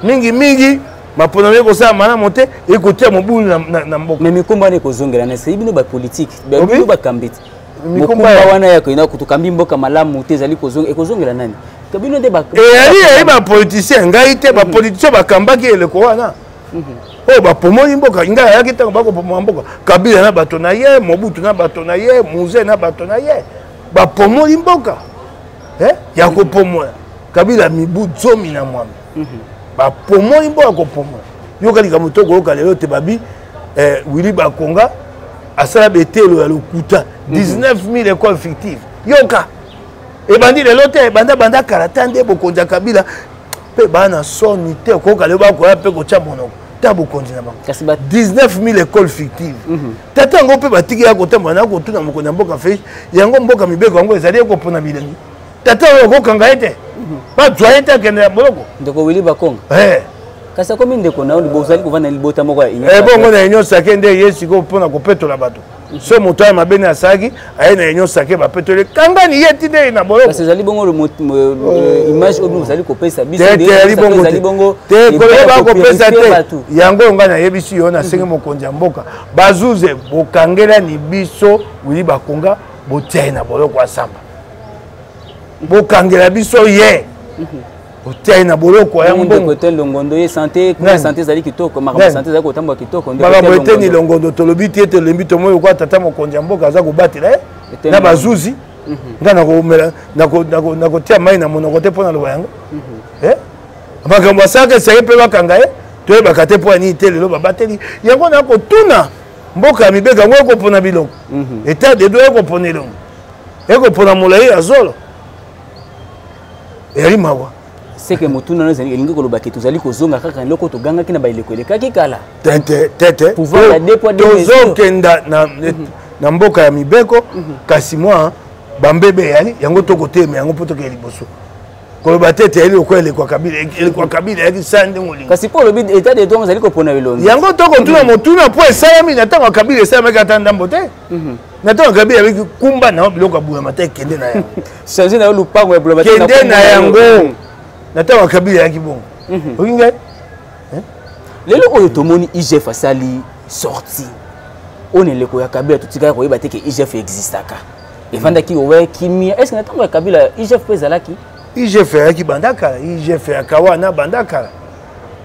[SPEAKER 2] mingimingi maponami ekosala malamu te ekotia mobulu na, na, na mboka me mikumba wana ekozongela
[SPEAKER 1] na esei bino bapolitike bino bakambi te mikumba wana ya koyina kutukambi mboka malamu te ezali ekozongela nani bino nde eyali eyali bapolitisien
[SPEAKER 2] ngai te bapolitisien bakambaki eleko wana oyo bapomoli mboka ngai ayaki ntango bakopomola mboka kabila na bato na ye mobutu na bato na ye muze na bato na ye bapomoli mboka eh, ya kopomola kabila mibu zomi na mwambe mhm. bapomoli mboka kopomola yoka likambo to koyoka lelo te babi eh, wili bakonga asala betelo ya lokuta 19 mhm. 000 école fictive yoka ebandi lelo te ebanda banda kala ta nde bokonzi ya kabila mpe baa na soni te okoyoka leo bakoya mpe kotya monoko ta bokonzi na bango 19000 école fictive mhm. tata yango mpe batiki ya kotambola na kotuna mokonzi ya mboka fe yango mboka mibeko yango ezali ye kopona bilengi tata oyo okokanga ye te mhm. bazwa ye te akende ya boloko ndeko wili bakonga
[SPEAKER 1] eh. kasi akomi ndeko na yo ozali kovanda na libota moko ya union ebongo eh, na union sake
[SPEAKER 2] nde ye sikoyo mpo na kopetola bato so moto ya mabe nde asalaki aye na union sake bapetole kangani ye ti nde na boyo kasi ezali bongo oh.
[SPEAKER 1] image oyo bozali kopesa bisoezali bongo
[SPEAKER 2] te koloba bakopesa te yango oyo ngai nayebisi yo nasengi mhm. mokonzi ya mboka bazuze bokangelani biso wili bakonga botia ye na boloko asamba bokangela biso ye mhm. otia ye na boloko ya mbongo te longondo ye sante
[SPEAKER 1] kuna sante ezali kitoko makambo sante ezali kotambola kitoko makambo eteni longondo
[SPEAKER 2] tolobi te tolembi tomoi lokola tata mokonzi ya mboka aza kobatela ye na bazuzi mhm. nga nakomela nakotia mai na monoko te mpo na loba yango mhm. eh? makambo asalaka esake mpe bakanga ye toyebaka te mpo ya nini te lelo babateli yango na kotuna mboka ya mibeko yango ekopona bilongo mhm. etat de droit ekopona elongo ekopona molai ya zolo eyali mawa seke motuna
[SPEAKER 1] no ezali elingi koloba ke tozali kozonga kaka eloko togangaki na baeleko elekaki kala
[SPEAKER 2] tozokenda mhm. na mboka ya mibeko mhm. kasi mwa bambebe eyali yango tokotelema yango mpo tokee liboso koloba te ete yali lokola elekwa kabila elekwa kabila yaki sa ndenge olingi kasi mpo olobi etat de
[SPEAKER 1] droit ezali kopona elongi yango tokotuna motuna
[SPEAKER 2] mpo esalami na ntango ya kabila esalamaki ata ndambo te Mhm. na ntango gabi abiki kumba na yo biloko ya bulamata ekende na yango change na yo lupango
[SPEAKER 1] ya bulamata kende na yango mhm.
[SPEAKER 2] na ntango gabi ayaki bongo mhm. oki ngai eh?
[SPEAKER 1] lelo oyo tomoni igf asali sorti oyo na eleko ya kabila totikaka koyeba te ke igf existaka efandaki owe kimia estce na ntango ya kabila igf mpe ezalaki igf ayaki
[SPEAKER 2] banda kala igf ya kawana banda kala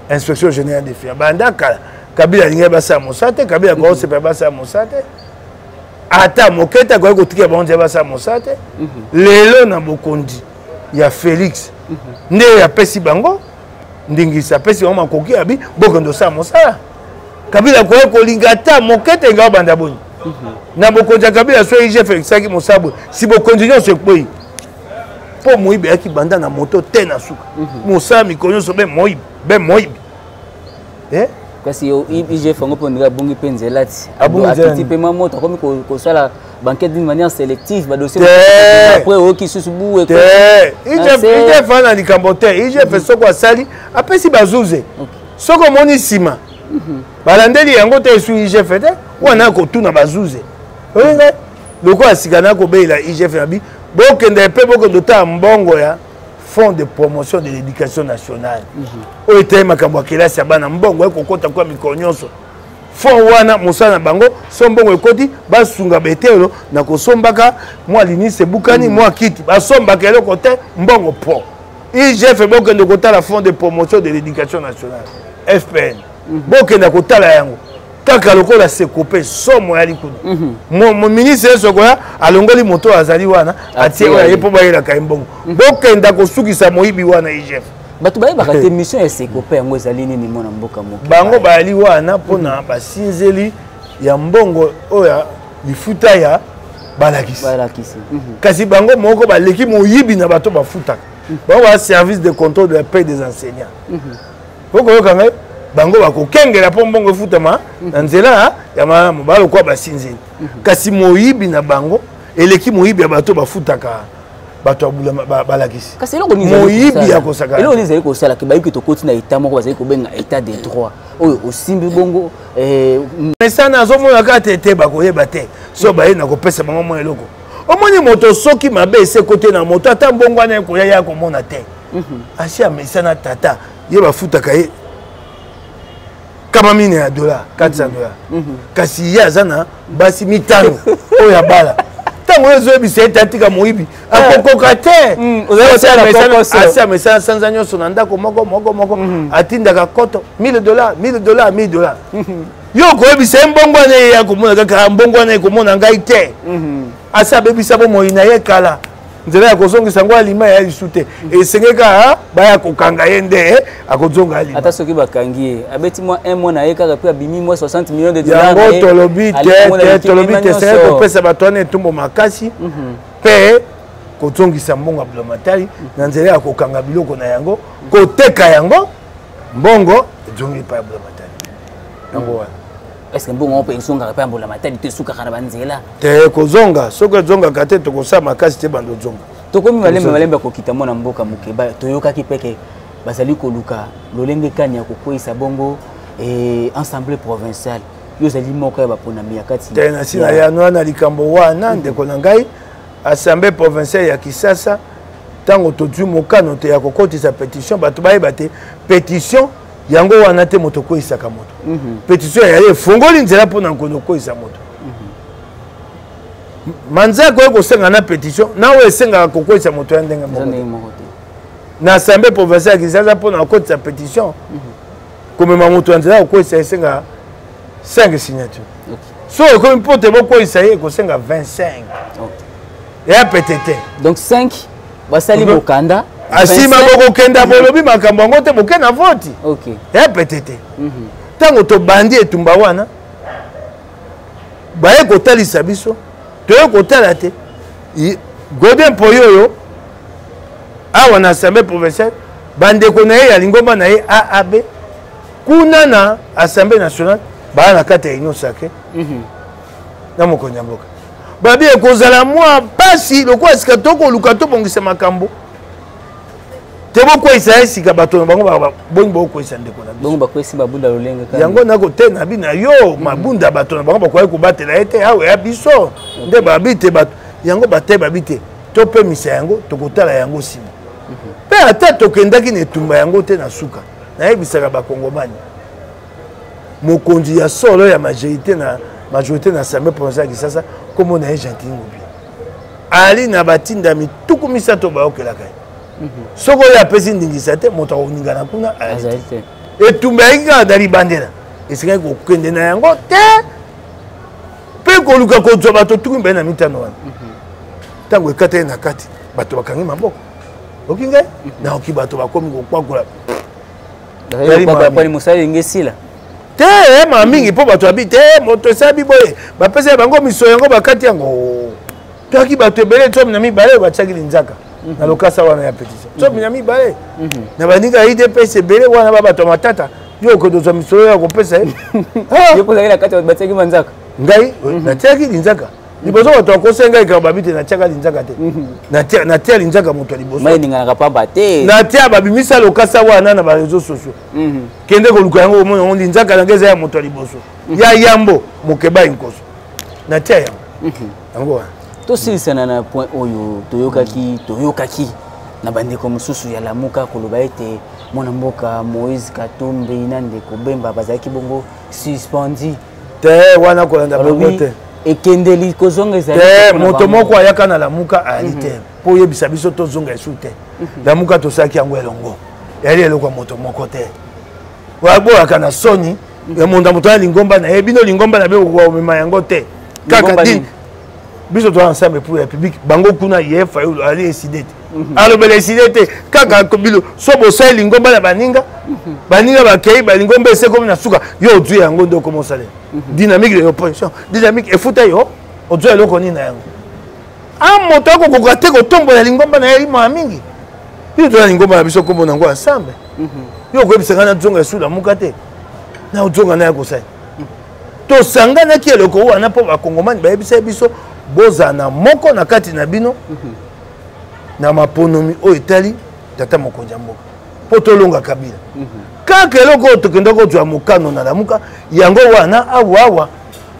[SPEAKER 2] inspection générale de fia banda kala kabila alingaki basala mosala te kabila akoki kosepela basala mosala te ata moke te akoki kotikela bango nzela basala mosala te mhm. lelo na bokonzi ya félix mhm. nde apesi bango ndingisa apesi bango makoki abi bokende osala mosala kabila akoki kolinga ata moke te nga obanda boni mhm. na bokonzi ya kabila so igf ekisaki mosala boye si bokonzi nyonso ekwei mpo moyibi ayaki banda na moto te na suka mhm. mosala mikolo nyonso be moyibi be moyibi eh?
[SPEAKER 1] kasi igf yango mpo ndenge abungi mpe nzela ti akiti mpe mwa moto akomi kosala banquete d'une manière sélective badosieaprès oyoki susu buwe
[SPEAKER 2] igf ana likambo te igf mhm. soko asali apesi bazuze soki omoni nsima mhm. balandeli yango te esu igf te wana akotuna bazuze olingai lokola sika na kobelela igf na bi bokenda epe bokenda otala mbongo ya fonds de promotion de l'éducation nationale mhm. oyo etali makambo ya kelasi ya bana mbongo ya kokota kwa mikolo nyonso fond wana mosala na bango so mbongo ekoti basunga betelo na kosombaka mwa linisi ebukani mhm. mwa kiti basombaka eloko te mbongo po igf bokende kotala fonds de promotion de l'éducation nationale fpn mhm. bokenda kotala yango kaka lokola sekope somo ya likulu mhm. ministre yesu akoya alongoli moto oyo azali wana atie oyo aye mpo bayelaka ye mbongo mhm. bokenda kosukisa moyibi wana igf bato bayebaka te
[SPEAKER 1] mission ya sekope yango ezali nini mwana mboka moke bango bayali wana
[SPEAKER 2] mpona mhm. basinzeli ya mbongo oyo ya lifuta ya balakisi kasi bango moko baleki moyibi na bato bafutaka bango ba service de contrôle de la paix des enseignants okoyoka ngai bango bakokengela mpo mbongo efutama mhm. na nzela ya malamu balokola basinzeli mhm. kasi moyibi na bango eleki moyibi ya bato bafutaka bato ya balakisi moyibi
[SPEAKER 1] ya kosakanaeloko
[SPEAKER 2] ezali kosala ke bayoki
[SPEAKER 1] tokoti na etat moko bazali kobenga etat de droit oyo osimbi bongo eh,
[SPEAKER 2] mesana azomona kaka te te bakoyeba te so mhm. baye na kopesa bango mwa eloko omoni moto soki mabe esekoti na moto ata mbongo wana ekoya ye akomona te mhm. asi amesana tata ye bafutaka ye kama mine ya dola 400 dola kasi ye aza na basi mitano oyo abala ntango oyo ezoyebisa ye te atika moyibi eh. akokoka te mm, asi amesana sanza nyonso na ndako moko moko moko mm. atindaka koto 1000 dola 1000 dola 1000 dola yo okoyebisa ye mbongo wana ye akomona kaka mbongo wana ekomona ngai te mm-hmm. asi abebisa bomoi na ye kala nzela ya kozongisa yango alima ya lisu te esengeli kaka baya kokanga ye nde akozonga alima ata soki bakangi ye
[SPEAKER 1] abeti mwa un mois na ye kaka mpe abimi mwa 60 million de dollars yango tolobi
[SPEAKER 2] te tolobi te esengeli kopesa bato wana etumbo makasi mpe mhm. kozongisa mbongo ya blamatari na nzela ya kokanga biloko na yango koteka yango mbongo ezongi epai ya blamatari yango wana est-ce que mbongo yango mpe
[SPEAKER 1] ezongaka mpe ya mbulamatari to esukaka na banzela te kozonga
[SPEAKER 2] soki ezongaka te tokosala makasi te bando ozonga tokomi malembe malembe
[SPEAKER 1] kokita mwana mboka moke toyokaki mpe ke bazali koluka lolenge kani ya kokweisa bongo eh, ensemble provinciale yo ozali moko ya baponami ya kati te nasi na yano
[SPEAKER 2] wana likambo wana ndeko na ngai assemblée provinciale ya kisasa ntango tozwi mokano te ya kokotisa pétition bato bayeba te pétition yango wana te moto okweisaka moto mhm. petition ya yaya efongoli nzela mpo na nkono okweisa moto mhm. manza akoki kosenga na petition na oyo esengaka kokweisa moto ya ndenge moko na assemblée provincial ya kinshasa mpo na kokotisa petition mhm. komema moto ya nzela kokweisa esengaka 5 signature soki ekomi mpo te bokweyisa ye ekosenga 25 ya pete te donc 5
[SPEAKER 1] basali bokanda asima
[SPEAKER 2] bokokenda bolobi makambo yango te boke na voti ya pete te ntango tobandi etumba wana baye kotalisa biso toye kotala te godin mpoyo oyo awa na assemblée provinciale bandeko na ye ya lingomba na ye aab kuna na assemblée nationale baya na kati ya union sacré mhm. na mokonzi ya mboka babi ekozala mwa mpasi lokola sika tokoluka tobongisa makambo te bokweyisa ye sika bato na bango boni bakokweyisa ndeko na biso bakweyisi babunda
[SPEAKER 1] lolenge yango nakote na bi na
[SPEAKER 2] yo mhm. mabunda bato na bango bakoki kobatela ye te awa ya biso nde babi te bato yango bataye babi te topemisa yango tokotala yango nsima mhm. mpe ata tokendaki na etumba yango te na suka nayebisaka bakongomani mokonzi ya solo ya majorité na majorité na assemblée provinciale ya kisasa nkombo na ye gentil ngubi ali na batindami tuku misato bayokelaka ye mhm. soki oyo apesi ndingisa te moto akoningana kuna ayali te etumba yaki kaka na libandela esikaki kokende na yango te mpe koluka kozwa bato tuku mibale na mitano wana mhm. ntango ekateli na kati bato bakangi maboko oki ngai naoki bato bakomi kokwakola
[SPEAKER 1] mosala elenge esila te eh,
[SPEAKER 2] ma mingi mpo bato abi te eh, moto esabi boye bapesa ya bango miso yango bakati yango toyaki bato ebele tsomi na mibale oyo batiaki linzaka mhm. na lokasa wana ya petition tsomi mhm. na mibale mhm. na baninga ya idps ebele wana ba bato ya matata yo okende ozwa misolo ya kopesa ye ah! ngai natiaki linzaka liboso moto akosenga ngai likambo babi te natyaka linzaka te mhm. natya linzaka moto ya libosoeninganaka pamba te natya babimisa lokasa wana na bareseau sociaux mhm. kende koluka yango omona yango linzaka na ngai eza ya moto ya liboso mhm. ya yambo mokebai nkoso natya yango yango wana tosilisana na
[SPEAKER 1] point oyo toyokaki toyokaki na bandeko mosusu ya lamuka koloba ete mwana mboka moïse katumbi na ndeko bemba bazalaki bongo suspendi te
[SPEAKER 2] wana kolanda bango te ekendeli
[SPEAKER 1] kozonga ezali te moto moko
[SPEAKER 2] ayaka na lamuka ayali mhm. te mpo oyebisa biso tozonga esu te mhm. lamuka tosalaki yango elongo eyali eloko ya moto moko te boyaka na soni mhm. ya monda moto ya lingomba na ye bino lingomba na be okomema yango te kaka dini biso toza ensemble pour ya public bango kuna ye fayulu ali eside te mhm. alobela eside te kaka bilo so bosali lingomba na baninga mhm. baninga bakei balingomba esekomi na suka yo ozwi yango nde okoma osalela mhm. dynamique de l'opposition dynamique efuta yo ozwa eloko nini na yango a ah, moto akokoka te kotombola lingomba na ye limwa mingi yo toza lingomba na biso kombo nango ensemble yo okoyebisa ngai nazonga esuda moka te na ozonga na ya kosali tosanganaki eloko wana mpo bakongomani bayebisaki biso bozala na moko na kati na bino mhm. na maponomi oyo etali tata mokonzi ya mboka mpo tolonga kabila mhm. kaka eloko oyo tokenda kozwa mokano na lamuka yango wana awawa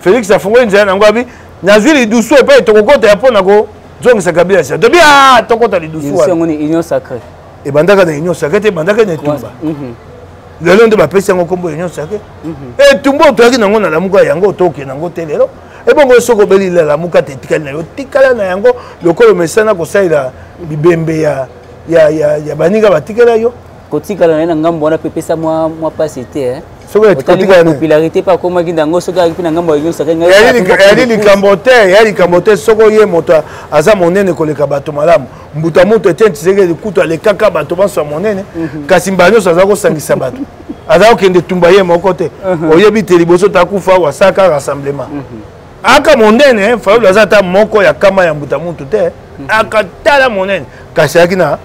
[SPEAKER 2] félix afongoli nzela nango abi nazwi lidusu epai tokokota ya mpo na kozongisa kabila sia tobi a ah, tokota lidusu wana
[SPEAKER 1] ebandaka na union
[SPEAKER 2] sacre te ebandaka na etumba mhm. lelo nde bapesi yango nkombo union sacre mhm. etumba otoyaki nango na lamuka yango otoke nango te lelo ebongo soki obeli lalamuka te etikali na yo tikala na yango lokola omesana kosalela bibembe ya, ya, ya, ya baninga batikela yo kotikala na ye na ngambo
[SPEAKER 1] wana mpe epesa mwa mpasi te eh? popularité
[SPEAKER 2] mpe akomaki nango
[SPEAKER 1] soki ayaki mpe na ngambo yayali likambo
[SPEAKER 2] te yayali likambo te soki oye moto aza monene koleka bato malamu mbuta ya moto etienne tshisekedi kutu alekaka bato banso ya monene mhm. kasi mbala nyonso aza kosangisa bato aza kokende tumba ye moko te mhm. oyebi te liboso takufa wasaka rassemblement mhm. aka monene fayulu aza ata moko ya kama ya mbuta muntu te akatala monene kasi ayaki na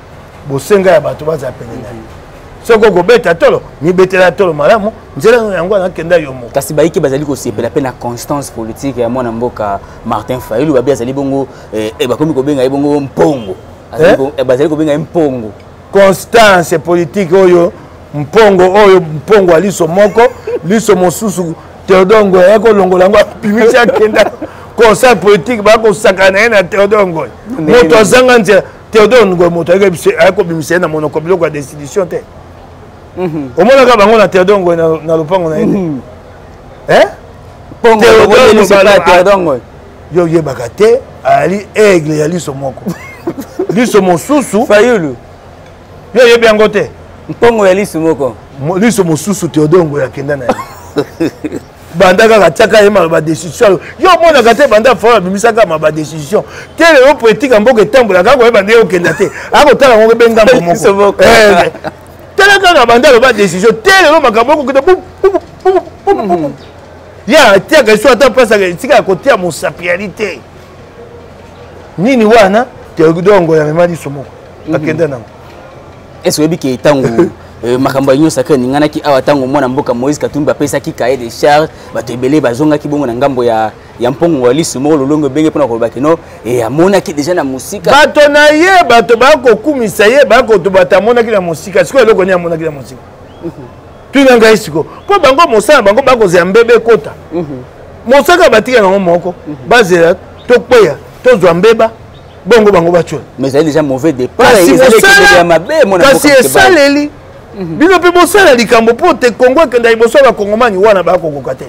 [SPEAKER 2] bosenga ya bato bazala pene na ye soki okobeta tolo mibetela tolo malamu nzela yango anakenda yo moko kasi bayike bazali kosepela
[SPEAKER 1] mpe na constance politique ya mwana mboka martin fayulu babi azali bongo eh, eh, bakomi kobenga ye bongo mpongo eh? eh? bazali kobenga ye mpongo constance
[SPEAKER 2] politique oyo mpongo oyo mpongo ya liso moko liso mosusu theodore ngoy aye kolongola yango apimisi akenda conseil politique bakosakana ye na theodore ngoy moto azanga nzela theodore ngoy moto aye kobimisa ye na monoko biloko ya destitution te mhm. omonaka bango na theodore ngoy na lopango na ye te mhm. eh?
[SPEAKER 1] theodore ngoy yo oyebaka
[SPEAKER 2] te ayali aigle ya liso moko liso mosusu fayulu
[SPEAKER 1] yo oyebi
[SPEAKER 2] yango te mpongo ya liso
[SPEAKER 1] moko liso mosusu
[SPEAKER 2] teodore ngoyo akenda na ye banda kaka tiaka ye maloba décision yo yo omonaka te banda fao abimisaka maloba décision te lelo politique ya mboka etambola kaka koyeba nde okenda te akotala ngo be ngambo moko eh, tala kaka banda aloba décision te lelo makambo okokita ya atiaka esu ata mpasaka esika ya kotia mosapi ya lite nini wana teodongo ya mema liso moko mhm. akenda nango ese oyebi
[SPEAKER 1] ke ntango eh, makambo ya union sacre eninganaki awa ntango mwana mboka moïse katumbi apesaki kaye de charge bato ebele bazongaki bongo na ngambo ya ya mpongo ya lisu moko lolongo ebenge mpona koloba kino eh, amonaki deja na mosika bato na ye
[SPEAKER 2] bato bakokumisa ye bakoto bato amonaki na mosika sikoyo eloko nini amonaki na mosika mhm. tuna ngai siko mpo bango mosala bango bakozela mbebe ekota mhm. mosaka batika yango moko mhm. bazela tokweya tozwa mbeba bongo bango batyola kasi esaleli mhm. bino mpe bosala likambo mpo te kongo ekenda liboso ya bakongomani wana bakokoka te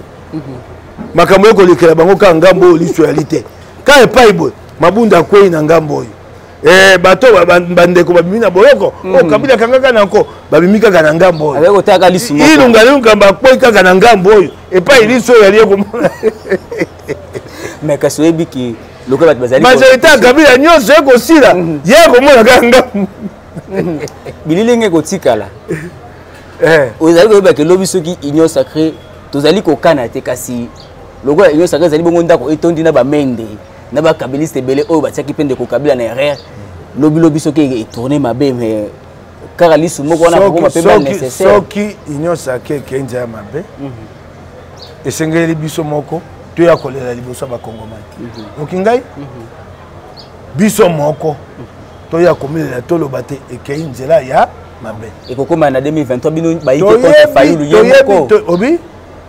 [SPEAKER 2] makambo ekolekela bango kaka ngambo oyo liso yali te ka epai boye mabunda akwei na ngambo oyo Eh, bato bandeko babimi na boloko oyo mm. oh, kabila akangaka na nko babimi kaka na ngambo oyo ilunga liluka bakwei kaka na ngambo oyo epai liso oyo alie komona
[SPEAKER 1] mais kasi oyebi ke lokola bato bazali majorité
[SPEAKER 2] ya kabila nyonso ekosila mm-hmm. ye akomona kaka ngambo mm-hmm.
[SPEAKER 1] bililingi ekotikala eh. ozali koyeba ke lobi soki union sacré tozali kokana te kasi lokola union sacré ezali bongo ndako etondi na bamende na ba kabiliste ebele oyo batiaki mpe ndeko kabila na erreur lobi lobi soki etourne mabe mais kaka lisu moko wana kokoma mpe ba nécessaire soki union
[SPEAKER 2] sacrée ekendi ya mabe mhm. esengeli biso moko toya kolela liboso ya bakongomani mhm. oki ngai mhm. biso moko toya komilela toloba te ekei nzela ya mabe ekokoma na 2023
[SPEAKER 1] bino bayi te fayulu ye moko obi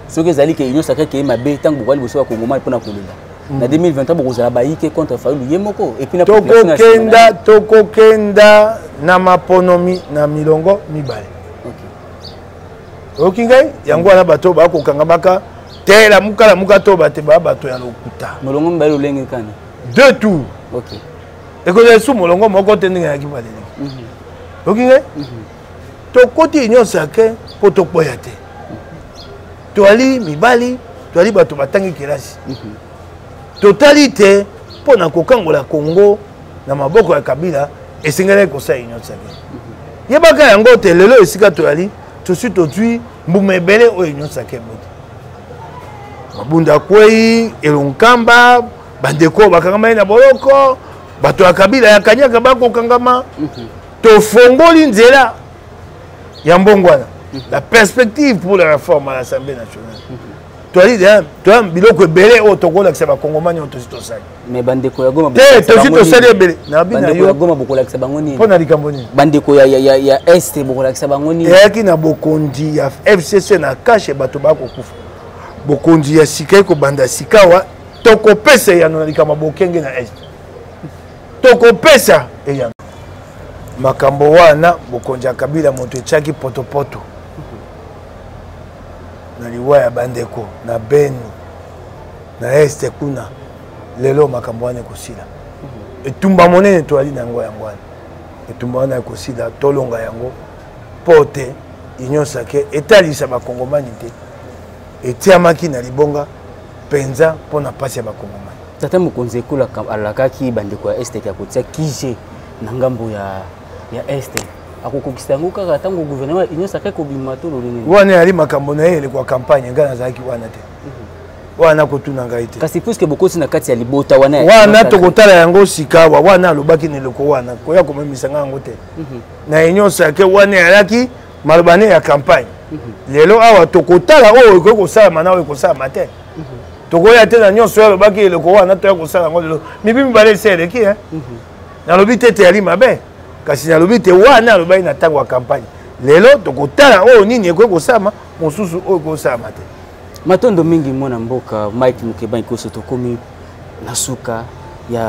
[SPEAKER 2] soki ezali ke
[SPEAKER 1] union sacrée ekei mabe ntango bokoya liboso ya kongomani mpo na kolela na 2023 bokozala bayike contre fayulu ye moko tokokenda tokokenda
[SPEAKER 2] na maponomi na milongo mibale oyoki ngai yango wana bato bakokangamaka te lamuka lamuka to bate ba bato ya lokuta molongo mibale lolenge
[SPEAKER 1] kani deux tour
[SPEAKER 2] ekozala esu molongo moko te ndenge yaki balele mhm. oyoki ngai mhm. tokoti union sacre mpo tokwea te toali mibali toali bato batangi kelasi mhm. totali te mpo na kokangola congo na maboko ya kabila esengelaki kosala union sacre mhm. yebaka yango te lelo esika toyali tosi tozwi mbuma ebele oyo union sacre boti mabunda kwei elonkamba bandeko oyo bakangamaki na boloko bato ya kabila ya kanyaka bakokangama mhm. tofongoli nzela ya mbongwana la perspective pour la réforme à l'assemblée nationale toyali toya biloko ebele oyo tokolakisa bakongomani oyo tosi tosali
[SPEAKER 1] te tosi tosali
[SPEAKER 2] ebele
[SPEAKER 1] mpo na likambo nini bandeko
[SPEAKER 2] ya
[SPEAKER 1] este bokolakisa bango nini eyaki na bokonzi
[SPEAKER 2] ya fcc na kashe bato bakokufa bokonzi ya sika ekobanda sikawa tokopesa eyano na likambo ya bokenge na este tokopesa eyano makambo wana bokonzi ya kabila moto etyaki potopoto na liwa ya bandeko na beni na este kuna lelo makambo wana ekosila etumba monene toyali na yango yango wana etumba wana ekosila tolonga yango mpo te union sake etalisa bakongomani te etiamaki na libonga mpenza mpo na mpasi ya bakongomani tata mokonzi ekolo
[SPEAKER 1] alakaki bandeko ya este ya kotia kije na ngambo ya, ya este akokokisa yango kaka ntango gouvernement ya union sacre kobima to lolenge wana yali makambo na ye
[SPEAKER 2] elekwa campagne ngai nazalaki wana te mhm. wana kotuna ngai te kasi puiske bokosi na kati ya
[SPEAKER 1] libota wana wana tokotala
[SPEAKER 2] yango sikawa wana alobaki na eloko wana koya komemisa ngai yango te mhm. na union sacre wana yalaki maloba ne ya campagne lelo awa tokotala oyo ekoki kosalama na oyo ekosalama te tokoya te na nyonso oyo alobaki eloko wana toya kosala yango lelo mibi mibale esi eleki e nalobi te teyali mabe kasi nalobi te wana alobaki na ntango ya campagne lelo tokotala oyo nini ekoki kosalama mosusu oyo ekoki kosalama te matondo mingi
[SPEAKER 1] mwana mboka mike mokebani koso tokomi na suka ya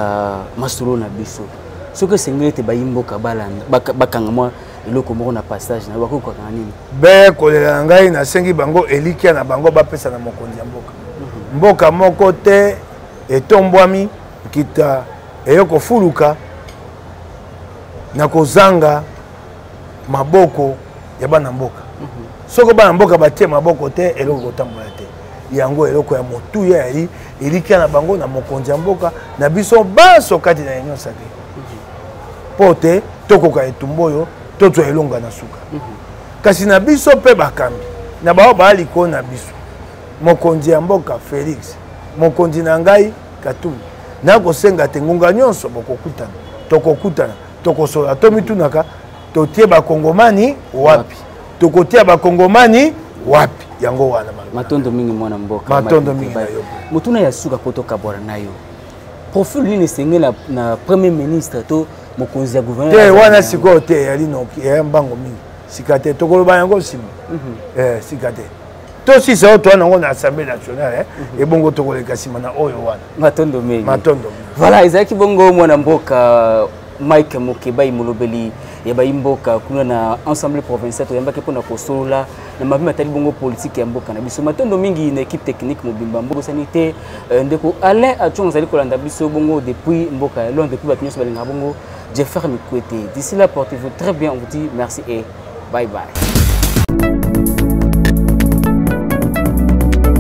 [SPEAKER 1] masolo na biso soki esengeli ete bayimboka balanda bakanga mwa eloko moko na passage na bakoki kokanga nini be kolela na
[SPEAKER 2] ngai nasengi bango elikya na bango bapesa na mokonzi ya mboka mhm. mboka moko te etombwami nkita eyo kofuluka na kozanga maboko ya bana mboka mhm. soko bana mboka batie maboko te eloko kotambola te yango eloko ya motuya ya ye elikya na bango na mokonzi ya mboka na biso banso kati na union sacre mpo te tokoka etumba oyo tozwa elonga na suka mhm. kasi na biso mpe bakambi na baoyo baa likolo na biso mokonzi ya mboka félix mokonzi na ngai katumbi nakosenga te ngonga nyonso bokokutana tokokutana tokosolola tomitunaka totie bakongomani wapi tokotia bakongomani wapi yango wana matondo mingi mwana
[SPEAKER 1] mboka matondo mingi na yo
[SPEAKER 2] motuna ya suka po
[SPEAKER 1] tokabwana na yo profil nini esengeli na premier ministre to mokonzi ya gouvernemente wana sikoyo
[SPEAKER 2] te eyali noki eya mbango mingi sika te tokoloba yango nsima mhm. eh, sika te tosisa oyo towana yango na assemblée nationale eh. mhm. ebongo tokoleka nsima na oyo wana matondo mingi matondo
[SPEAKER 1] mingi voilà
[SPEAKER 2] ezalaki bongo
[SPEAKER 1] mwana mboka Mike Mukebayi molobeli ya bayi mboka kuna na ensemble provincial toyambaki mpona kosolola na mabe matali bongo politiki ya mboka na biso matondo mingi na équipe technique mobimba mbokosani te euh, ndeko alain acongo azali kolanda biso bongo depuis mboka ya londres depuis bato nyonso balingaka bongo jeffer mikwete d'ici là portez vous très bien on vous dit merci et bye bye